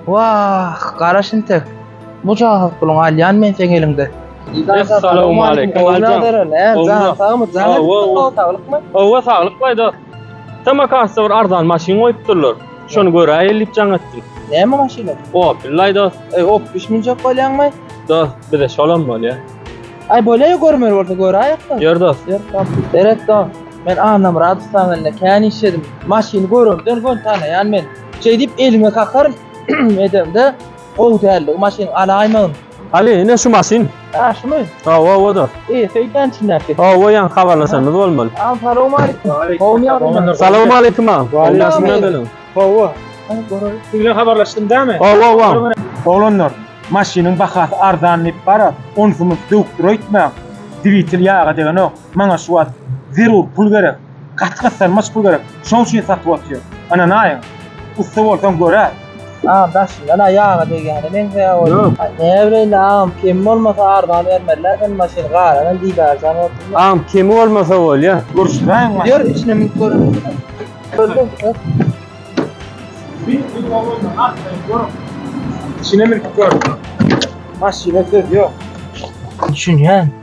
Wah, gara şintek. Bu jahat puluňy alýan men seň eliňde. Essalawmaleýkim, Oguljan. Janyň sagmy, janyň sagmy, saglykmy? Hawa, saglyk baý dost. Samarkantda bir arzan maşyn goýupdyrlar. Şony göräýeli diýip jaň etdim. Näme maşyny? Opel laý dost. Eý, Opel münjek bolýaňmy? Dost, bize şolam bolýa. Aý, bolýa-ýa görmeli bolsa göräýek-de. Ýör dost. Ýör dost. Seret dost, men Annamyradowlaň elinde kän işledim. Maşyny görenden göni tanaýan men. Şeýdip elime kakar edemde gowy däldi. Maşyn alaýmagyn. Ali, ine şu maşyn. Ha, şumy? Hawa, oda. E, söýdän içindäki. Hawa, ýan habarlaşanymyz bolmaly. Assalamu alaykum. Gowmy ýagdaýlar? Salam alaykum ağa. Gowmy ýagdaýlar? Hawa. Siz bilen habarlaşdym dämi? Hawa, hawa. Oglanlar, maşynyň bahasy arzan diýip bara, onsumyz döwüp dur öýtmäň. Dwitel ýaga degenok. Maňa şu wagt zerur pul gerek. Gaty gyssanmaç pul gerek. Şoň üçin satyp otyr. Ynanaýyň. Ussa bolsaň göräý. Agam daşyndan-a ýaga degýäne meňzeýär oý. Näbileýin indi agam kemi bolmasa arzan bermezler sen maşyny galanam diýdarjan bolsunmy. Agam kemi bolmasa bolýa. Görüşdräýiň maşyny. Ýör içine münüp göreliň. Içine münüp gör. Maşyna söz ýok. Düşünýän.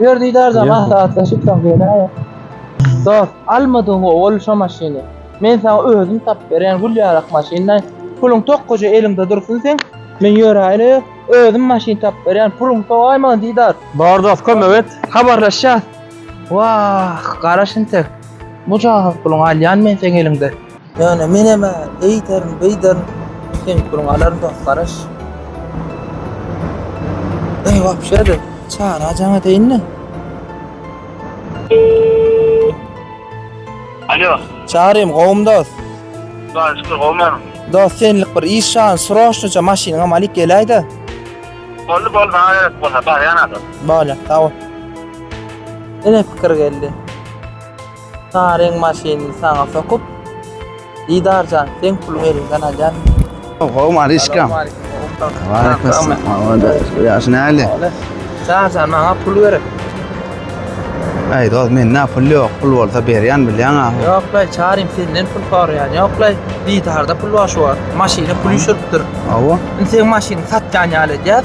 Ýör didarja maslahatlaşyp soň geleýik. Dost, almadygyňy ol şo maşyny. Men saňa özüm tapyp berýän gül ýarak maşyndan. Puluň tokgaja eliňde dursun seň. Men ýöräýeli, özüm maşyn tapyp berýän. Puluň sowaý maňa didar. Bar dost, kömek et. Habarlaşýas. Wah, garaş intek. Mujahat puluňy alýan men seň eliňden. Ýöne menem-ä eýderin, beýderin. Düşünip duruň, alaryn dost garaş. Eý, wapşe-de, Çary ajaňa eteýin-le. Alo. Çarym, gowumy dost? Hudaýa şükür, gowy men. Dost, senlik bir iş şan, sroçnyça maşynyňam alyp geläý-de. Boldy, boldy, maňa gerek bolsa, barýan-a dost. Bolýar, sag bol. Ine pikir geldi. Saryň maşynyny saňa sokup, Didar jan, seň puluňy eliňden alýan. Oho, Maryşka. Waleyküm salam. Ýaş näli? Didar jan, maňa pul gerek. Aý, dost, mende pul ýok. Pul bolsa berýän bilýäň-a. Ýok laý, Çarym senden pul soraýan ýok laý. Didarda pul bar şu wagt. Maşyna pul üşüripdir. Hawa. Indi seň maşynyňy satýan ýaly edýäs.